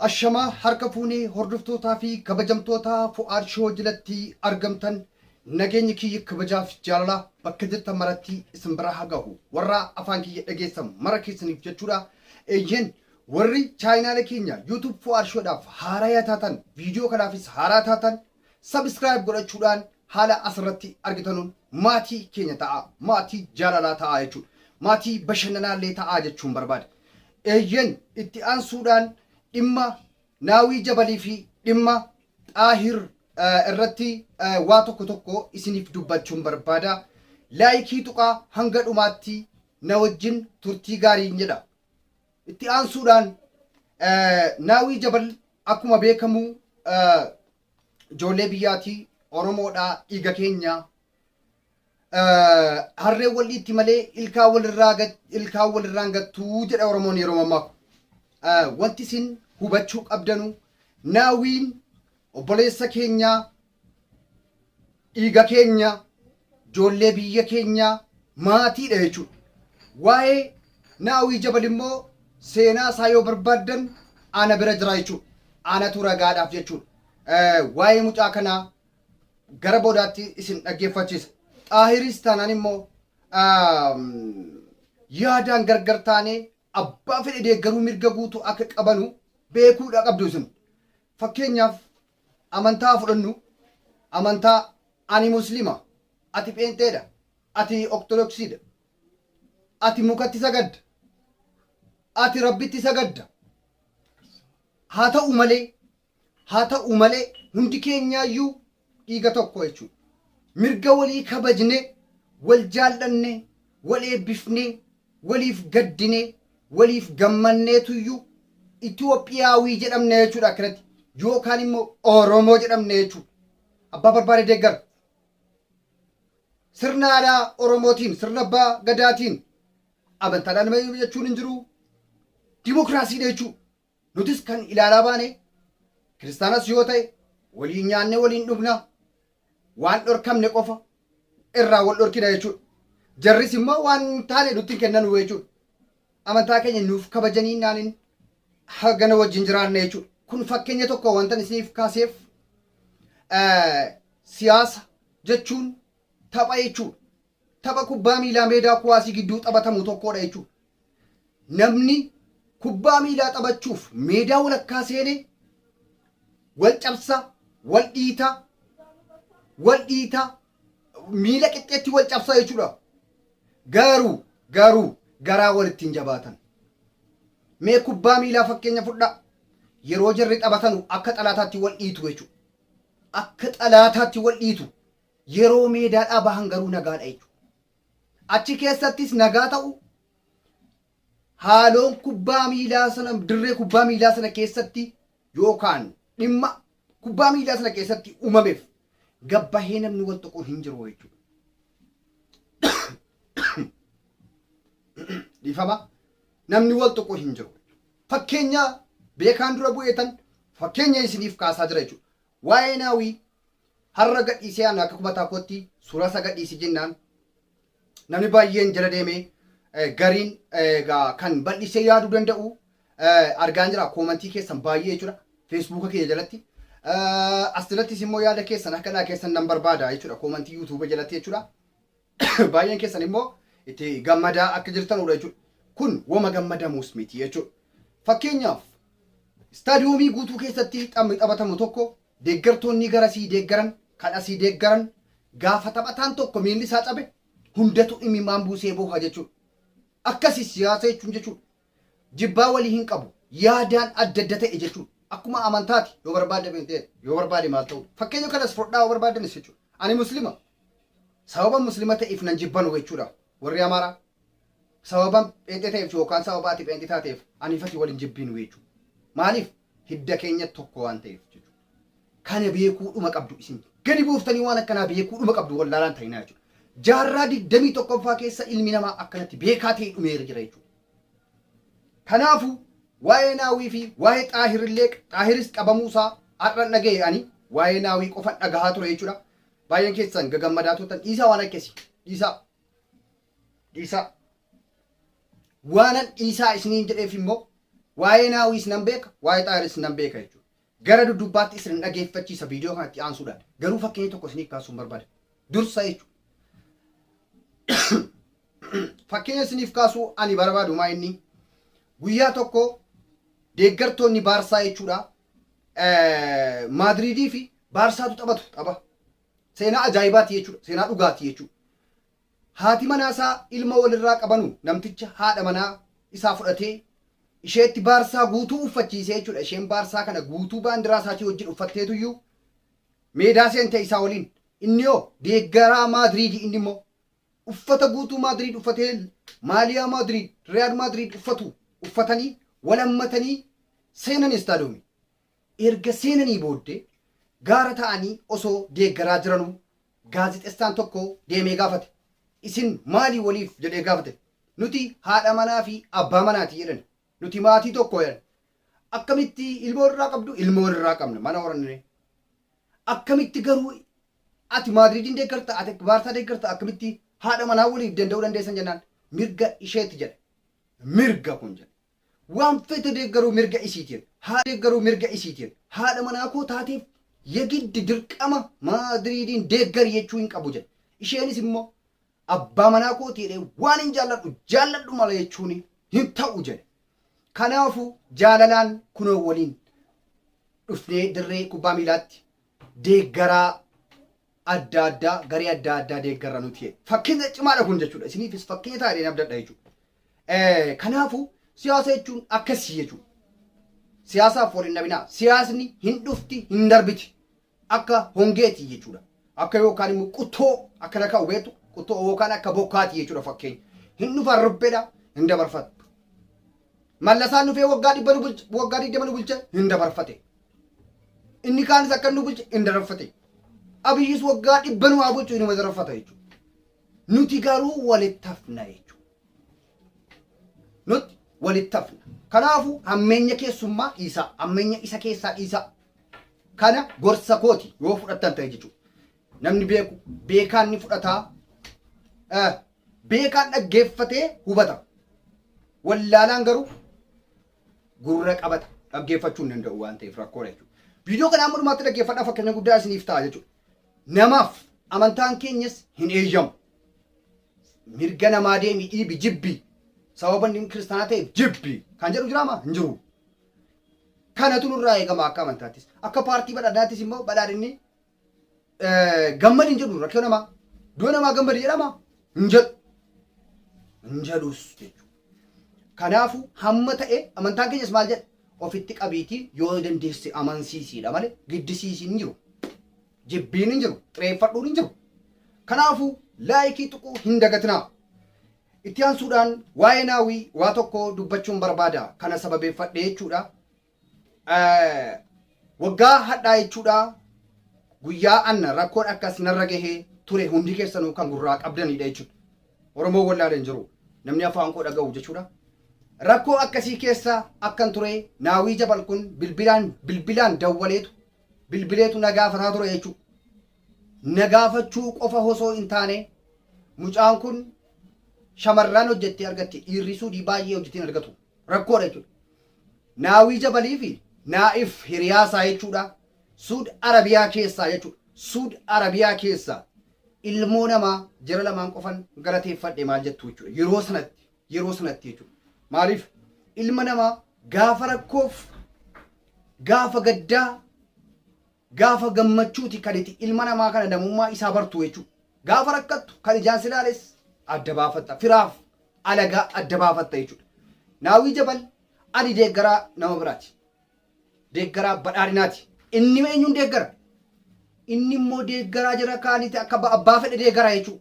Ashamaa harka fuunee hordoftootaa fi kabajamtoota Fu'aad Shoo jalatti argamtan nageenyi kiyya kabajaaf jaalalaa bakka jirtan maratti isin biraa haa gahu. Warra afaan kiyya dhageessan mara keessaniif jechuudha. Eeyyeen warri chaayinaala keenya YouTube Fu'aad Shoodhaaf haaraa yaa taatan viidiyoo kanaafis haaraa taatan Subscribe godhachuudhaan haala asirratti argitanuun maatii keenya ta'aa, maatii jaalalaa ta'aa jechuudha. Maatii bashannanaallee ta'aa jechuun barbaada. Eeyyen itti aansuudhaan dhimma Naawii Jabalii fi dhimma Xaahir eh, irratti eh, waa tokko tokko isiniif dubbachuun barbaada. Laayikii tuqaa hanga dhumaatti na wajjin turtii gaariin jedha. Itti aansuudhaan eh, Naawii Jabal Akkuma beekamu ijoollee biyyaati, Oromoodha, dhiiga keenya. Harreen wal dhiitti malee ilkaan walirraa ilkaan walirraan gattuu jedha Oromoon yeroo mammaaku. Wanti isin hubachuu qabdanu naawiin obboleessa keenyaa dhiiga keenya, ijoollee biyya keenya, maatiidha jechuudha. Waa'ee Naawii Jabal immoo seenaa isaa yoo barbaaddan ana bira jira jechuudha. Anatu ragaadhaaf jechuudha. Eh, Waa'ee mucaa kanaa gara boodaatti isin dhaggeeffachiisa. Xaahiris taanaan immoo aam, yaadaan gargar taanee abbaa fedhe deeggaruu mirga guutuu akka qabanu beekuudha qabdu isin. Fakkeenyaaf amantaa haa fudhannu, amantaa ani Muslima, ati pheenxeedha, ati Oktodoksiidha, ati mukatti sagadda, ati Rabbitti sagadda. Haa ta'u malee, haa ta'u malee hundi keenyaayyuu dhiiga tokko jechuudha. Mirga walii kabajnee, wal jaallannee, wal eebbifnee, waliif gaddinee, waliif gammanneetuyyuu Itoophiyaawii jedhamna jechuudha akkanatti. Yookaan immoo Oromoo jedhamna jechuudha. Abbaa barbaade deeggara. Sirna aadaa Oromootiin, sirna abbaa gadaatiin, amantaadhaan nama jechuun hin jiru. Dimokiraasiidha jechuudha. Nutis kan ilaalaa baane kiristaanas yoo ta'e waliin nyaannee waliin dhugna, waan dhorkamne qofa irraa wal dhorkina jechuudha. Jarris immoo waan hin taane nutti hin kennanu jechuudha. Amantaa keenya nuuf kabajanii naanin hagana wajjin jiraanna jechuudha. Kun fakkeenya tokko wantan isiniif kaaseef eh, siyaasa jechuun tapha jechuudha. Tapha kubbaa miilaa meedaa kuwaasii gidduu taphatamu tokkoodha jechuudha. Namni kubbaa miilaa taphachuuf meedaa walakkaa seene wal cabsa, wal dhiita, wal dhiita, miila qixxeetti wal cabsa jechuudha. Garuu garuu garaa walitti hin jabaatan. Mee kubbaa miilaa fakkeenya fudhaa. Yeroo jarri taphatanu akka xalaataatti wal dhiitu jechuudha. Akka xalaataatti wal dhiitu. Yeroo meedaadhaa bahan garuu nagaadha jechuudha. Achi keessattis nagaa ta'u haaloon kubbaa miilaa sana dirree kubbaa miilaa sana keessatti yookaan dhimma kubbaa miilaa sana keessatti uumameef gabbahee namni wal tuqu hin jiru jechuudha. Dhiifama namni wal tuqu hin jiru. Fakkeenya beekaan dura bu'eetan fakkeenya isiniif kaasaa jira jechuudha. Waa'ee naawii Har'a gadhiisee an akka kumataa kootti suuraasaa gadhiisi jennaan namni baay'een jala deemee gariin egaa kan bal'isee yaaduu danda'u argaan jira koomantii keessan baay'ee jechuudha feesbuuka kiyya jalatti as jalattis immoo yaada keessan akka naa keessan nan barbaada jechuudha koomantii yuutuuba jalatti jechuudha baay'een keessan immoo itti gammadaa akka jirtanudha jechuudha kun woma gammadamuus miti jechuudha fakkeenyaaf istaadiyoomii guutuu keessatti taphni taphatamu tokko Deeggartoonnii gara sii deeggaran kan asii deeggaran gaafa taphataan tokko miilli isaa cabe hundatu imimaan buusee booha jechuudha. Akkasi siyaasa jechuun jechuudha. Jibbaa walii hin qabu. Yaadaan adda adda ta'e jechuudha. Akkuma amantaati yoo barbaadde pheenxeedha. Yoo barbaade maal ta'uudha. Fakkeenya kanas fudhadhaa yoo barbaaddanis jechuudha. Ani muslima. Sababa muslima ta'eef nan jibbanu jechuudha. Warri Amaaraa sababa pheenxee ta'eef yookaan sababa ati pheenxee taateef anii fi ati wal hin jibbiinu jechuudha. Maaliif? Hidda keenya tokko waan ta'eef jechuudha. Kana beekuu dhuma qabdu isin gadi buuftanii waan akkanaa beekuu dhuma qabdu wallaalaan ta'inaa jechuudha. Jaarraa digdamii tokkoffaa keessa ilmi namaa akkanatti beekaa ta'ee dhumeera jira jechuudha. Kanaafuu waa'ee naawii fi waa'ee xaahirillee xaahiris qabamuusaa har'an dhaga'e ani waa'ee naawii qofan dhagahaa ture jechuudha. Baay'een keessan gagammadaa turtan dhiisaa waan akkasi dhiisaa dhiisaa waanan dhiisaa isiniin jedheef immoo waa'ee naawiis nan beeka waa'ee xaayiris nan beeka jechuudha gara dudubbaatti isin dhageeffachiisa viidiyoo kanatti aansuudhaan garuu fakkeenya tokko isiniif kaasuun barbaada dursa jechuudha fakkeenya isiniif kaasuu ani barbaadu maa inni guyyaa tokko deeggartoonni baarsaa jechuudha Maadriidii fi Baarsaatu taphatu tapha. Seenaa ajaa'ibaati jechuudha. Seenaa dhugaati jechuudha. Haati manaa isaa ilma walirraa qabanu namticha haadha manaa isaa fudhatee isheetti Baarsaa guutuu uffachiisee jechuudha. Isheen Baarsaa kana guutuu baandiraa isaatii wajjin uffatteetuyyuu meedaa seente isaa waliin. Inni hoo deeggaraa Maadriidi inni immoo Uffata guutuu Maadriid uffatee maaliyaa Maadriid, Riyaal Maadriid uffatu uffatanii wal hammatanii seenan istaadoomii. Erga seenanii booddee gaara taa'anii osoo deeggaraa jiranuu gaazexessaan tokko deemee gaafate. Isin maali waliif? jedhee gaafate. Nuti haadha manaa fi abbaa manaati jedhani. Nuti maatii tokko jedhan. Akkamitti ilmoo irraa qabdu? Ilmoo irraa qabna. Mana horannee. Akkamitti garuu ati Maadriidiin deeggarta, ati Baarsaa deeggarta, akkamitti haadha manaa waliif danda'uu dandeessan jennaan mirga isheeti jedhe. Mirga kun jedhe. Waan fete deeggaruu mirga isiiti jedhe. Haa deeggaruu mirga isiiti jedhe. Haadha manaa koo taateef yegiddi dirqama Maadriidiin deeggari jechuu hin qabu jedhe. Isheenis immoo Abbaa manaa kooti jedhee waanin jaalladhu jaalladhu mala jechuun hin ta'u jedhe. Kanaafuu jaalalaan kunoo waliin dhufnee dirree kubbaa miilaatti deeggaraa adda addaa garee adda addaa deeggarra nuti jedhe. Fakkeenya cimaadha kun jechuudha. Isiniifis fakkeenya ta'a jedheen abdadha jechuudha. Eh, Kanaafuu siyaasa jechuun akkasii jechuudha. Siyaasaaf wal hin dhabinaa. Siyaasni hin dhufti hin darbiti. Akka hongee ti jechuu dha. Akka yookaan immoo quttoo akkana ka'u beektu quttoo yookaan akka bokkaa ti jechuu dha fakkeenya. Hin dhufa arruphee dha hin dabarfatu. Mallasaan dhufee waggaa dhibba nu bulche waggaa digdama nu bulche hin dabarfate. Inni kaanis akka nu bulche hin dabarfate. Abiyyis waggaa dhibba nu haa bulchu inuma dabarfata jechuudha. Nuti garuu walitti hafna jechuudha. Nuti walitti hafna. Kanaafuu hammeenya keessummaa dhiisaa, hammeenya isa keessaa dhiisaa. Kana gorsa kooti yoo fudhattan ta'e jechuudha. Namni beeku beekaan ni fudhataa. Eh, Beekaan dhaggeeffatee hubata. Wallaalaan garuu gurra qabata. Dhaggeeffachuu hin danda'u waan ta'eef rakkoodha jechuudha. Viidiyoo kana amma dhumaatti dhaggeeffadhaa fakkeenya guddaa isiniif ta'a jechuudha. Namaaf amantaan keenyas hin eeyyamu. Mirga namaa deemi dhiibi jibbi. Sababa inni kiristaanaa ta'eef jibbi. Kan jedhu jiraama? Hin jiru. Kanatu nurraa eegama akka amantaattis. Akka paartii badhaadhinaattis immoo badhaadhinni gammadi hin jedhu rakkoo namaa. Du'a namaa gammadi jedhama hin jedhu. Hin jedhus jechuudha. Kanaafuu hamma ta'e amantaan keenyas maal jedha? Ofitti qabiitii yoo dandeesse amansiisiidha malee giddisiisiin hin jiru. Jibbiin hin jiru. Xireeffadhuun hin jiru. Kanaafuu laayikii tuquu hin dagatinaa. Itti aansuudhaan waa'ee Naawi waa tokko dubbachuun barbaada. Kana sababeeffadhee jechuudha. Waggaa hadhaa jechuudha guyyaa anna rakkoon akkas narra gahee ture hundi keessanuu kan gurraa qabdanidha jechuudha. Oromoo wallaale hin jiru. Namni afaan koo dhaga'u jechuudha. Rakkoo akkasii keessa akkan ture Naawii Jabal kun bilbilaan bilbilaan dawwaleetu bilbileetu na gaafataa ture jechuudha. na gaafachuu qofa hosoo hin taane mucaan kun shamarraan hojjettee argatti dhiirri suudii baay'ee hojjetiin argatu rakkoodha jechuudha. Naawii Jabalii fi Naa'if hiriyaa isaa jechuudha Suud Arabiyaa keessaa jechuudha. Suud Arabiyaa keessaa ilmoo namaa jara lamaan qofan galateeffadhe maal jettu jechuudha. Yeroo sanatti yeroo sanatti jechuudha. Maaliif ilma namaa gaafa rakkoof gaafa gaddaa Gaafa gammachuuti kan iti ilma namaa kana namummaa isaa bartu jechu. Gaafa rakkattu kan ijaan silaales adda baafatta. Firaaf alagaa adda baafatta jechudha. Naawwii Jabal ani deeggaraa nama biraati. Deeggaraa badhaadhinaati. Inni eenyuun deeggara? Inni immoo deeggaraa jara kaaniti akka abbaa fedhe deegara jechu.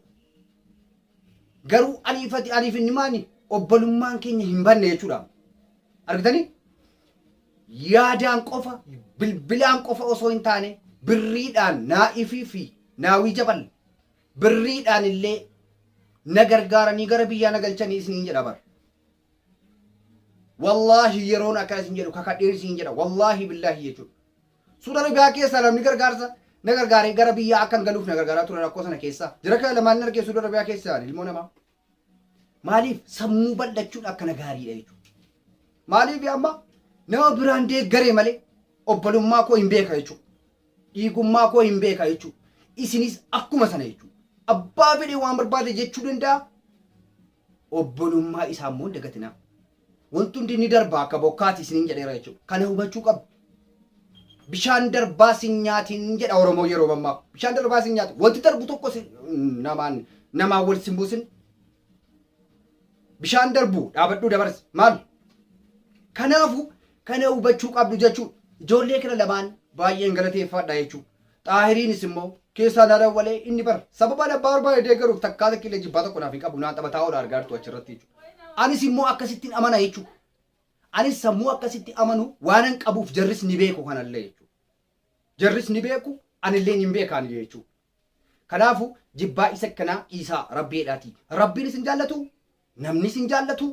Garuu aniif ati aniif inni maani obbolummaan keenya hin banne jechudha. Argitanii? Yaadaan qofa, bilbilaan qofa osoo hin taane birriidhaan naa'ifii fi naawii jabal birriidhaan illee na gargaaranii gara biyyaa na galchanii isiniin jedha bar. Wallaahi yeroon akkana isin jedhu kakadheen isiniin jedha wallaahi billaahi jechuudha. Suuda Arabiyaa keessaa namni gargaarsa na gargaaree gara biyyaa akkan galuuf na gargaaraa ture rakkoo sana keessaa. Jira kana lamaan hin argee Suuda Arabiyaa keessaa ilmoo namaa. Maaliif sammuu bal'achuun akkana gaariidha jechuudha. Maaliif amma nama biraan deeggaree malee obbolummaa koo hin beeka jechuudha. Dhiigummaa koo hin beeka jechuudha. Isinis akkuma sana jechuudha. Abbaa fedhe waan barbaade jechuu danda'a. Obbolummaa isaa immoo hin dagatinaa. Wanti hundi ni darba akka bokkaati isiniin jedheera jechuudha. Kana hubachuu qabdu. Bishaan darbaa sin nyaatin jedha Oromoo yeroo mammaaku. Bishaan darbaa sin nyaatin. Wanti darbu tokko sin- namaan namaan wal sin buusin. Bishaan darbu dhaabadhuu dabarsi. Maal? Kanaafu kana hubachuu qabdu jechuudha. Ijoollee kana lamaan baay'een galateeffadha jechuudha. Xaahiriinis immoo keessaa naa dawwalee inni bar sababaan abbaa barbaade deeggaruuf takkaa takka illee jibbaa tokko naaf hin qabu naan taphataa oola argaa jirtu achirratti jechuudha. Anis immoo akkasittiin amana jechuudha. Anis sammuu akkasitti amanu waanan qabuuf jarris ni beeku kanallee jechuudha. Jarris ni beeku anillee ni beekaan jechuudha. Kanaafu jibbaa isa kanaa dhiisaa rabbii jedhaati. Rabbiin isin jaallatu namni isin jaallatu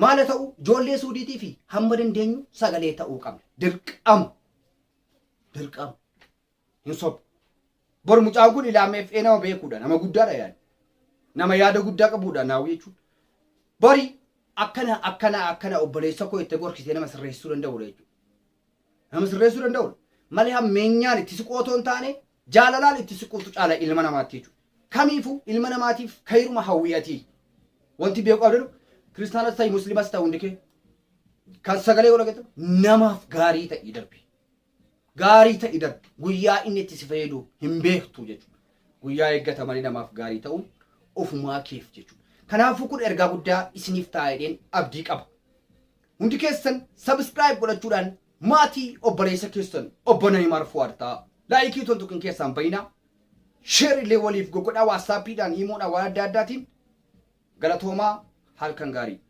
maala ta'u ijoollee suudiitii fi hamma dandeenyu sagalee ta'uu qabna. Dirqama. Dirqama. Hin sobu. Bor mucaan kun ilaameef ee nama beekuudha. Nama guddaadha yaani. Nama yaada guddaa qabuudha naawwi jechuudha. Bori akkana akkana akkana obboleessa koo itti gorkisee nama sirreessuu danda'uudha jechuudha. Nama sirreessuu danda'uudha. Malee hammeenyaan itti siqootoo hin taane Jaalalaan itti siquutu caala ilma namaatti jechuudha. Kamiifuu ilma namaatiif kayruma hawwii ati. Wanti beeku qabdanu kiristaanas ta'i muslimas ta'i hundi kee kan sagalee yoo dhageettu namaaf gaarii ta'i darbi. Gaarii ta'i darbi. Guyyaa inni itti si fayyadu hin beektu jechuudha. Guyyaa eeggata malee namaaf gaarii ta'uun ofumaa keef jechuudha. Kanaafuu kun ergaa guddaa isiniif ta'a jedheen abdii qaba. Hundi keessan subscribe godhachuudhaan maatii obboleessa keessan obbo Nayimaar Fuwaad ta'a. Laayikii utuu hin tuqin keessaan bayina. Sheer illee waliif gogodhaa waatsaappiidhaan iimoodhaan waan adda addaatiin galatoomaa halkan gaarii.